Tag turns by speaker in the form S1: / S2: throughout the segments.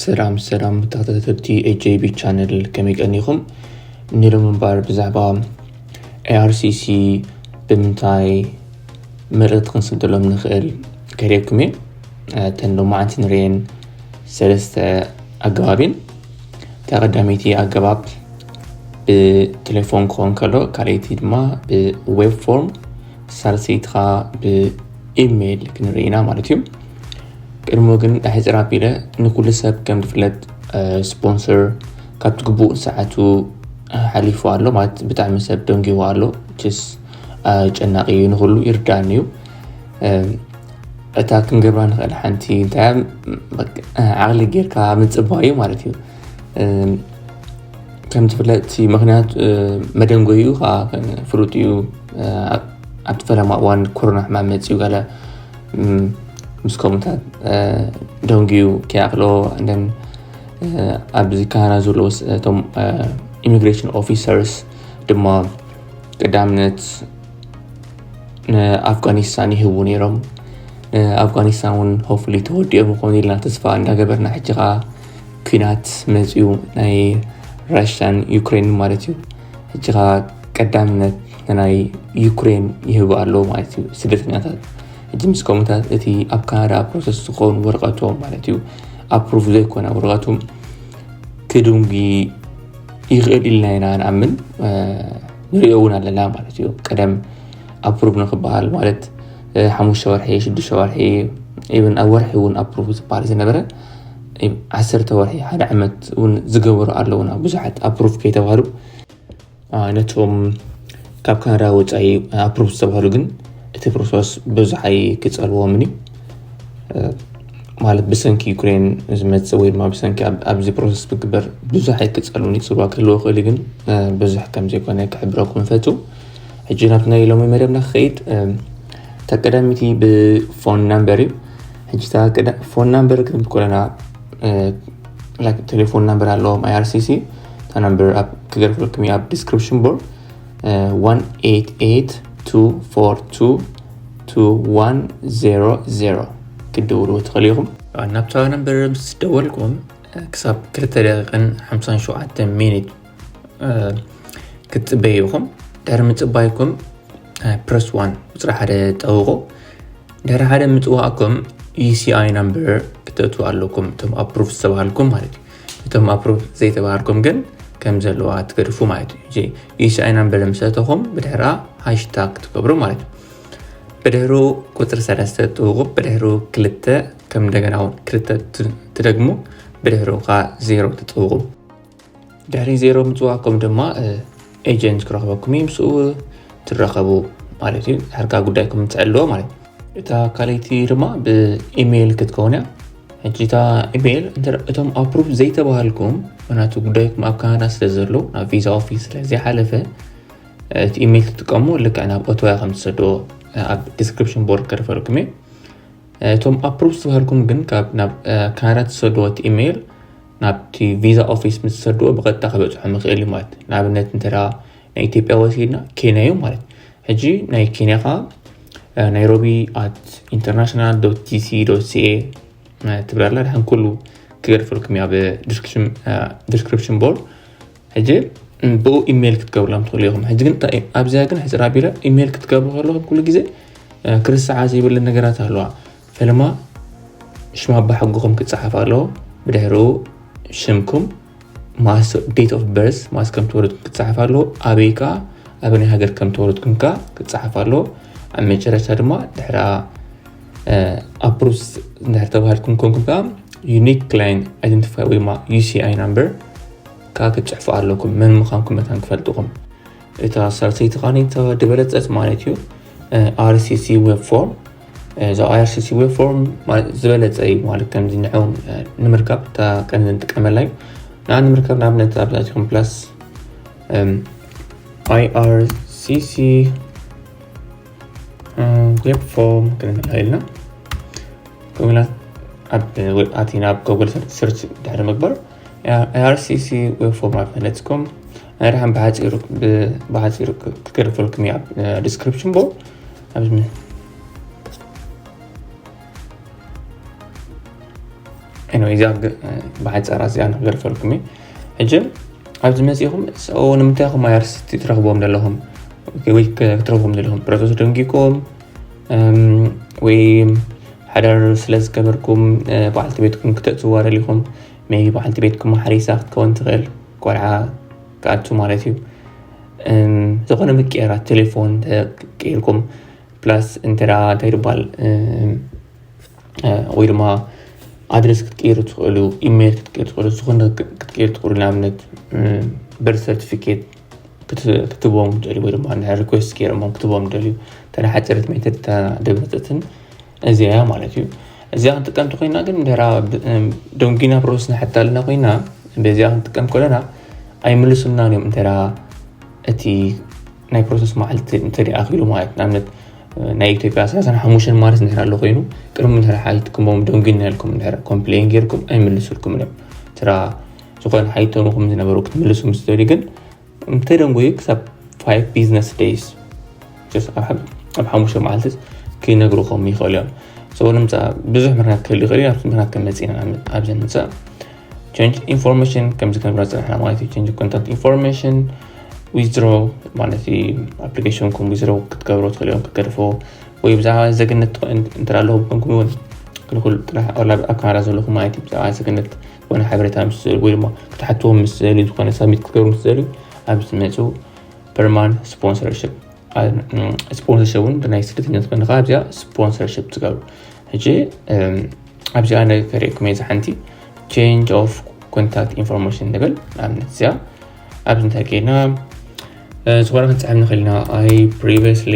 S1: ሰላም ሰላም ተኸታተልቲ ኤጀቢ ቻነል ከመይ ቀኒኹም ንሎም እምበር ብዛዕባ ኤኣርሲሲ ብምንታይ ምርት ክንስደሎም ንኽእል ከሪብኩም እየ እተን ሎማዓንቲ ንርኤን ሰለስተ ኣገባብን እታ ቀዳመይቲ ኣገባብ ብቴሌፎን ክኾን ከሎ ካልኣይቲ ድማ ብዌብ ፎርም ሳልሰይቲ ከዓ ብኢሜይል ክንርኢ ኢና ማለት እዩ ቅድሞ ግን ሕፅር ኣቢለ ንኩሉ ሰብ ከም ዝፍለጥ ስፖንሰር ካብ ትግቡእ ሰዓቱ ሓሊፉ ኣሎ ማለት ብጣዕሚ ሰብ ደንጊዎ ኣሎ ችስ ጨናቂ እዩ ንኩሉ ይርዳእኒ እዩ እታ ክንገብራ ንኽእል ሓንቲ እንታይ ዓቕሊ ጌርካ ምፅባይ እዩ ማለት እዩ ከም ዝፍለጥ ምክንያት መደንጎይኡ ከዓ ፍሉጥ እዩ ኣብቲ ፈለማ እዋን ኮሮና ሕማም መፅኡ ገለ ምስ ከምኡታት ደንጉዩ ከይኣክሎ እንደን ኣብዚ ካና ዘለዎ እቶም ኢሚግሬሽን ኦፊሰርስ ድማ ቀዳምነት ንኣፍጋኒስታን ይህቡ ነይሮም ንኣፍጋኒስታን እውን ሆፍሊ ተወዲኦም ይኮኑ ኢልና ተስፋ እንዳገበርና ሕጂ ከዓ ኩናት መፅኡ ናይ ራሽያን ዩክሬን ማለት እዩ ሕጂ ከዓ ቀዳምነት ንናይ ዩክሬን ይህቡ ኣለዎ ማለት እዩ ስደተኛታት ሕጂ ምስ ከምኡታት እቲ ኣብ ካናዳ ፕሮሰስ ዝኸውን ወረቀቶም ማለት እዩ ኣፕሩቭ ዘይኮነ ወረቀቱ ክድንጉ ይኽእል ኢልና ኢና ንኣምን ንሪኦ እውን ኣለና ማለት እዩ ቀደም ኣፕሩቭ ንክበሃል ማለት ሓሙሽተ ወርሒ ሽዱሽተ ወርሒ ኢብን ኣብ ወርሒ እውን ኣፕሩቭ ዝበሃል ዝነበረ ዓሰርተ ወርሒ ሓደ ዓመት እውን ዝገበሩ ኣለውና ብዙሓት ኣፕሩቭ ከይተባሃሉ ነቶም ካብ ካናዳ ወፃኢ ኣፕሩቭ ዝተባሃሉ ግን እቲ ፕሮሰስ ብዙሓይ ክፀልዎምን እዩ ማለት ብሰንኪ ዩክሬን ዝመፅእ ወይ ድማ ብሰንኪ ኣብዚ ፕሮሰስ ዝግበር ብዙሕ ኣይክፀሉን እዩ ፅልዋ ክህልዎ ክእል ግን ብዙሕ ከም ዘይኮነ ክሕብረኩም ፈቱ ሕጂ ናብቲ ናይ ሎሚ መደብና ክኸይድ እታ ቀዳሚቲ ብፎን ናምበር እዩ ሕጂ እታ ፎን ናምበር ክንብ ኮለና ቴሌፎን ናምበር ኣለዎም ኣይኣርሲሲ እታ ናምበር ክገርፍልኩም እዩ ኣብ ዲስክሪፕሽን ቦርድ 1882422100 ክትድውሉ ትኽእሉ ኢኹም ናብታ ነበር ምስ ደወልኩም ክሳብ 2 ደቂቕን 57 ሚኒት ክትፅበዩ ኢኹም ድሕሪ ምፅባይኩም ፕረስ ዋን ቁፅሪ ሓደ ጠውቑ ድሕሪ ሓደ ምፅዋእኩም ዩሲኣይ ናምበር ክተእትው ኣለኩም እቶም ኣፕሩቭ ዝተባሃልኩም ማለት እዩ እቶም ኣፕሩቭ ዘይተባሃልኩም ግን ከም ዘለዋ ትገድፉ ማለት እዩ እዚ ዩሲኣይና በለ ምሰተኹም ብድሕራ ሃሽታግ ትገብሩ ማለት እዩ ብድሕሩ ቁፅሪ ሰለስተ ትውቁብ ብድሕሩ ክልተ ከም እንደገና እውን ክልተ ትደግሙ ብድሕሩ ከዓ ዜሮ ትፅውቁ ድሕሪ ዜሮ ምፅዋኩም ድማ ኤጀንት ክረኽበኩም እዩ ምስኡ ትራኸቡ ማለት እዩ ሕርካ ጉዳይኩም ትዕልዎ ማለት እዩ እታ ካልይቲ ድማ ብኢሜይል ክትከውን እያ ሕጂ እታ ኢሜይል እቶም ኣፕሩቭ ዘይተባሃልኩም ምክንያቱ ጉዳይኩም ኣብ ካናዳ ስለ ዘሎ ናብ ቪዛ ኦፊስ ስለ ዘይሓለፈ እቲ ኢሜይል ትጥቀሙ ልክዕ ናብ ኦቶያ ከም ትሰዶ ኣብ ዲስክሪፕሽን ቦርድ ከርፈልኩም እየ እቶም ኣፕሩቭ ዝተባሃልኩም ግን ካብ ናብ ካናዳ ትሰድዎ እቲ ኢሜይል ናብቲ ቪዛ ኦፊስ ምስ ዝሰድዎ ብቐጥታ ክበፅሖም ይኽእል እዩ ማለት ንኣብነት እንተ ናይ ኢትዮጵያ ወሲድና ኬንያ እዩ ማለት ሕጂ ናይ ኬንያ ከዓ ናይሮቢ ኣት ኢንተርናሽናል ዶት ጂሲ ዶት ሲኤ ትብል ኣላ ድሓን ኩሉ ክገድፈልኩም እያ ብዲስክሪፕሽን ቦርድ ሕጂ ብኡ ኢሜይል ክትገብርሎም ትኽእሉ ኢኹም ሕጂ ግን ኣብዚኣ ግን ሕፅር ኣቢለ ኢሜይል ክትገብሩ ከለኹም ኩሉ ግዜ ክርስዓ ዘይብለን ነገራት ኣለዋ ፈለማ ሽም ኣባሕጉኹም ክፀሓፍ ኣለዎ ብድሕርኡ ሽምኩም ማስ ዴት ኦፍ በርስ ማስ ከም ተወለድኩም ክፀሓፍ ኣለዎ ኣበይ ከዓ ኣብ ናይ ሃገር ከም ተወለድኩም ከዓ ክፀሓፍ ኣለዎ ኣብ መጨረሻ ድማ ድሕራ ኣፕሩስ እንድሕር ተባሃልኩም ኮንኩም ከዓ ዩኒክ ክላይን ኣይደንቲፋይ ወይማ ዩሲኣይ ናምበር ከዓ ክትፅሕፉ ኣለኩም መን ምዃንኩም መታን ክፈልጥኹም እታ ሳልሰይቲ ኻኒታ ድበለፀት ማለት እዩ ኣርሲሲ ዌብ ፎርም እዚ IRCC ዌብ ፎርም ዝበለፀ እዩ ማለት ከምዚ ንዑ ንምርካብ እታ ቀን ንጥቀመላ እዩ ንዓ ንምርካብ ንኣብነት ኣብዛትኩም ፕላስ IRCC ዌብ ፎርም ክንብላ ኢልና ከምላ ኣብ ኣቲና ኣብ ጎግል ሰርች ድሕሪ ምግባር IRCC ዌብ ፎርም ኣብ ፈለፅኩም ናይ ረሓን ብሓፂሩ ክገድፈልኩም እዩ ኣብ ዲስክሪፕሽን ቦ ዛ ብሓፃራ እዚኣ ንክገርፈልኩም እዩ ሕጂ ኣብዚ መፅኹም ንምንታይ ኹም ኣርስ ትረክብዎም ዘለኹም ወይ ክትረክብዎም ዘለኹም ፕሮሰስ ደንጊኩም ወይ ሓዳር ስለዝገበርኩም በዓልቲ ቤትኩም ክተእትዋ ደሊኹም ሜቢ በዓልቲ ቤትኩም ሓሪሳ ክትከውን ትኽእል ቆልዓ ክኣቱ ማለት እዩ ዝኾነ ምቅያራት ቴሌፎን ቀይርኩም ፕላስ እንተ እንታይ ድባል ወይ ድማ ኣድረስ ክትቀይሩ ትኽእሉ ኢሜይል ክትቀይሩ ትኽእሉ ዝኾነ ክትቀይሩ ትኽእሉ ንኣብነት በር ሰርቲፊኬት ክትቦም ደልዩ ወይ ድማ ሪኩስት ገይሮሞ ክትቦም ደልዩ ተሓፀረት ሜተድ ደብረፅትን እዚኣ እያ ማለት እዩ እዚኣ ክንጥቀም ተኮይና ግን ድራ ደንጊና ፕሮሰስ ንሓታ ኣለና ኮይና በዚኣ ክንጥቀም ከለና ኣይምልሱና እዮም እንተ እቲ ናይ ፕሮሰስ መዓልቲ እንተደኣኪሉ ማለት ንኣብነት ናይ ኢትዮጵያ ሰላሳን ሓሙሽተን ማለት እንድሕር ኣሎ ኮይኑ ቅድሚ እንድሕር ሓይትኩሞም ደንጊና ኢልኩም እንድሕር ኮምፕሌን ጌርኩም ኣይምልሱልኩም እዮም ትራ ዝኾነ ሓይቶምኹም ዝነበሩ ክትምልሱ ምስ ደልዩ ግን እንተደንጎዩ ክሳብ ፋይቭ ቢዝነስ ደይስ ኣብ ሓሙሽተ መዓልቲ ክነግርኹም ይኽእሉ እዮም ሰው ንምፃእ ብዙሕ ምክንያት ክህሉ ይኽእል እዩ ኣብዚ ምክንያት ከመፅና ኣብዚ ንምፃእ ቸንጅ ኢንፎርሜሽን ከምዚ ከንብራ ፅናሕና ማለት እዩ ቸንጅ ኮንታክት ኢንፎርሜሽን ዊዝድሮ ማለት እዩ ኣፕሊኬሽንኩም ዊዝድሮ ክትገብሮ ትኽእል እዮም ክትገድፎ ወይ ብዛዕባ ዘግነት እንተ ኣለኹም ኮንኩም እውን ክልኩል ጥራሕ ኣብ ካናዳ ዘለኹም ማለት እዩ ብዛዕባ ዘግነት ዝኾነ ሓበሬታ ምስ ዝደልዩ ወይ ድማ ክትሓትዎም ምስ ዝደልዩ ዝኾነ ሳብሚት ክትገብሩ ምስ ዝደልዩ ኣብ ዝመፁ ፐርማን ስፖንሰርሽፕ ስፖንሰርሽፕ እውን ብናይ ስደተኛት ፈንድ ከዓ ኣብዚኣ ስፖንሰርሽፕ ትገብሩ ሕጂ ኣብዚኣ ነ ከሪእኩም እየ ዝሓንቲ ቼንጅ ኦፍ ኮንታክት ኢንፎርሜሽን ንብል ንኣብነት እዚኣ ኣብዚ እንታይ ከይና ዝኾነ ክንፅሕብ ንኽእል ኢና ኣይ ፕሪቪስሊ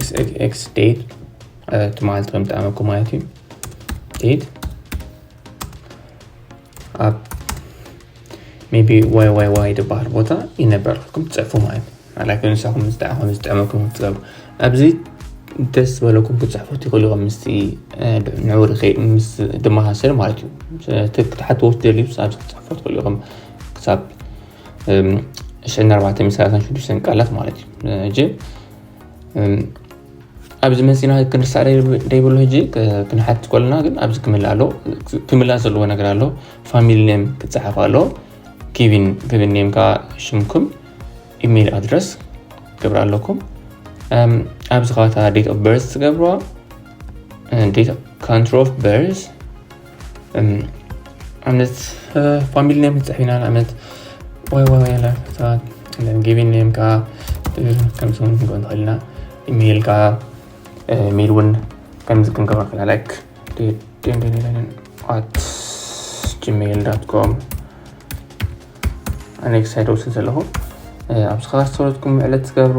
S1: xxx date ትማል ተምጣመኩ ማለት እዩ date ኣብ ሜቢ ዋይ ዋይ ዋይ ዝበሃል ቦታ ይነበረልኩም ትፅሕፉ ማለት እዩ ላይክ ንሳኹም ምስ ደኣ ከም ዝጥዕመኩም ክትገብሩ ኣብዚ ደስ ዝበለኩም ክትፅሕፉ ትኽእሉ ኢኹም ምስቲ ንዕኡ ርኸይ ምስ ድመሳሰል ማለት እዩ ክትሓትዎ ትደልዩ ኣብዚ ክትፅሕፉ ትኽእሉ ኢኹም ክሳብ እሸን ኣርባዕተ ሚስራትን ሽዱሽተን ቃላት ማለት እዩ ሕጂ ኣብዚ መፂና ክንርሳዕ ደይብሉ ሕጂ ክንሓት ኮለና ግን ኣብዚ ክምላ ኣሎ ክምላ ዘለዎ ነገር ኣሎ ፋሚሊ ኔም ክፀሓፍ ኣሎ ኪቪን ክብን ኔም ከዓ ሽምኩም ኢሜይል ኣድረስ ክገብር ኣለኩም ኣብዚ ከባታ ዴት ኦፍ በርዝ ትገብርዋ ዴት ካንትሪ ኦፍ በርዝ ኣብነት ፋሚሊ ኔም ክንፅሕፍ ኢና ንኣብነት ወይ ወይ ሰባት ጊቪን ኔም ከዓ ከምዚ እውን ክንገብር ንኽእል ኢና ኢሜይል ከዓ ኢሜይል እውን ከምዚ ክንገብር ንኽእል ኢና ላይክ ኣት ጂሜይል ዳት ኮም ኣኔክስ ኣይደውስን ዘለኹ ኣብዚ ከኣ ሰለትኩም ዕለት ትገብሩ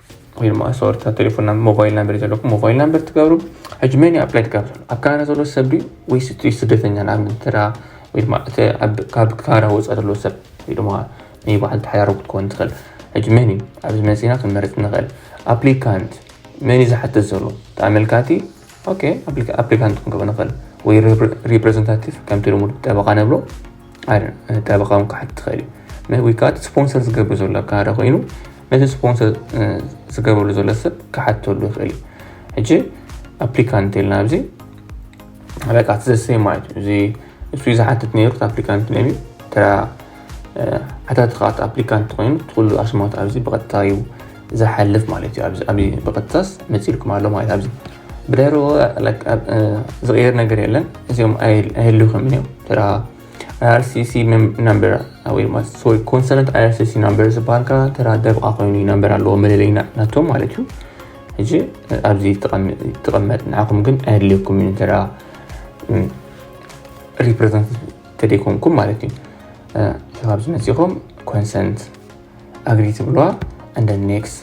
S1: ወይ ድማ ኣሰወርታ ቴሌፎን ሞባይል ናምበር ዘለኩም ሞባይል ናምበር ትገብሩ ሕጂ መን እዩ ኣፕላይ ትገብሩ ኣብ ካናዳ ዘሎ ሰብ ድዩ ወይስ እቲ ስደተኛ ንኣብነት ተራ ወይ ድማ እቲ ካብ ካናዳ ወፃ ዘሎ ሰብ ወይ ድማ ናይ በዓል ተሓዳሮ ክትከውን ትኽእል ሕጂ መን እዩ ኣብዚ መፂና ክንመርፅ ንኽእል ኣፕሊካንት መን እዩ ዝሓትት ዘሎ ተኣመልካቲ ኦኬ ኣፕሊካንት ክንገብር ንኽእል ወይ ሪፕሬዘንታቲቭ ከምቲ ልሙድ ጠበቃ ነብሎ ጠበቃ ውን ክሓት ትኽእል እዩ ወይ ከዓ ስፖንሰር ዝገብር ዘሎ ካደ ኮይኑ ነቲ ስፖንሰር ዝገብርሉ ዘሎ ሰብ ክሓተሉ ይኽእል እዩ ሕጂ ኣፕሊካንት ኢልና ኣብዚ በቃ ዘሰይ ማለት እዩ እዚ እሱ ዝሓትት ነይሩ ኣፕሊካንት ነቢ ተራ ሓታቲ ከዓ እቲ ኣፕሊካንት ኮይኑ እቲ ኩሉ ኣስማት ኣብዚ ብቐጥታ እዩ ዝሓልፍ ማለት እዩ ኣብዚ ብቐጥታስ መፂልኩም ኣሎ ማለት ኣብዚ ብዳይሮ ዝቕየር ነገር የለን እዚኦም ኣይህልውኹምን እዮም ተራ ኣይኣርሲሲ ናምበር ወይ ድማ ሶሪ ኮንሰርንት ኣይኣርሲሲ ናምበር ዝበሃል ከዓ ተራ ደብቓ ኮይኑ ናምበር ኣለዎ መለለይ ናቶም ማለት እዩ ሕጂ ኣብዚ ትቐመጥ ንዓኹም ግን ኣይድልየኩም እዩ ተራ ሪፕሬዘንት ተደይኮንኩም ማለት እዩ ካብዚ መፂኹም ኮንሰንት ኣግሪ ትብለዋ እንደ ኔክስ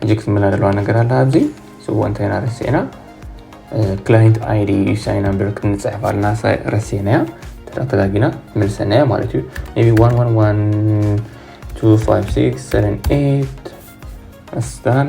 S1: ሕጂ ክትምላ ዘለዋ ነገር ኣላ ኣብዚ ስዎ እንታይና ረሲዕና ክላይንት ኣይዲ እዩ ሳይን ኣንበር ክንፅሕፍ ኣለና ረሲዕናያ ተዳተጋጊና መልሰናያ ማለት እዩ ቢ 1112567 ኣስታን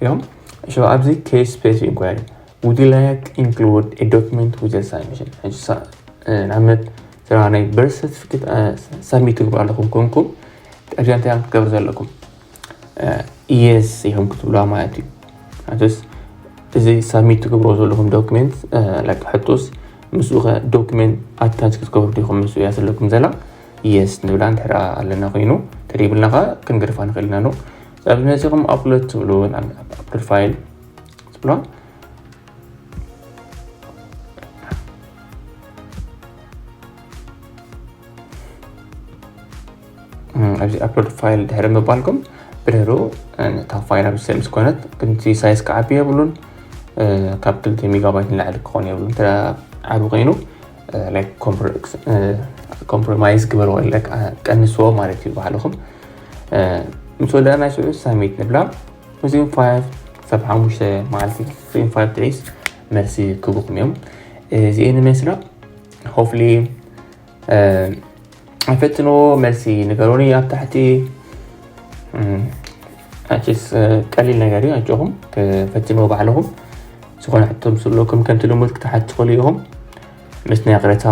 S1: እዮም ሽባ ኣብዚ ኬስ ስፔስ ኢንኳሪ ውድ ላይክ ኢንክሉድ ኤ ዶክመንት ዊዝ ሳብሚሽን ሕጂ ንኣብነት ስራ ናይ በርስ ሰርቲፊኬት ሳብሚት ትግብሩ ኣለኹም ኮንኩም ቀድያ እንታይ እዮም ክትገብሩ ዘለኩም ኢየስ ኢኹም ክትብሉዋ ማለት እዩ ኣንተስ እዚ ሳብሚት ትገብሮ ዘለኹም ዶክመንት ላይክ ሕቶስ ምስኡ ከ ዶክመንት ኣታች ክትገብሩ ዲኹም ምስ እያ ዘለኩም ዘላ ኢየስ ንብላ ንድሕራ ኣለና ኮይኑ ተደይብልና ከ ክንገድፋ ንኽእል ኢና ኣሎ ኣብዚ መጺኹም ኣፕሎድ ትብሉ ኣፕሎድ ፋይል ትብሎ ኣብዚ ኣፕሎድ ፋይል ድሕሪ ምባልኩም ብድሕሩ እታ ፋይል ኣብ ስም ዝኮነት ግንቲ ሳይዝ ክዓቢ የብሉን ካብ ክልተ ሜጋባይት ንላዕሊ ክኾን የብሉን እንተ ዓቢ ኮይኑ ኮምፕሮማይዝ ግበርዎ ቀንስዎ ማለት እዩ ባዕልኹም ምስ ወደኣ ናይ ሽዑ ሳሚት ንብላ ምስም ፋያት ክሳብ ሓሙሽተ መዓልቲ ክፍም ፋያት ትዒስ መልሲ ክቡኩም እዮም እዚኤን መስላ ሆፍሊ ፈትኖ መልሲ ንገሮኒ ኣብ ታሕቲ ኣችስ ቀሊል ነገር እዩ ኣጆኹም ፈትኖ ባዕልኹም ዝኾነ ሕቶ ምስ ኣለኩም ከምቲ ልሙድ ክትሓት ትኽእሉ ኢኹም ምስ ናይ ቅረታ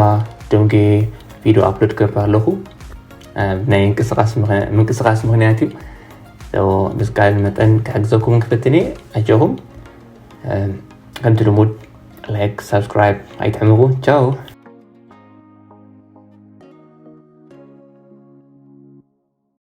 S1: ደንጌ ቪድዮ ኣፕሎድ ገብር ኣለኹ ናይ ምንቅስቃስ ምክንያት እዩ ብዝከኣለ መጠን ክሕግዘኩምን ክፍትን እየ ኣጆኹም ከምቲ ልሙድ ላይክ ሳብስክራይብ ኣይትሕምጉ ቻው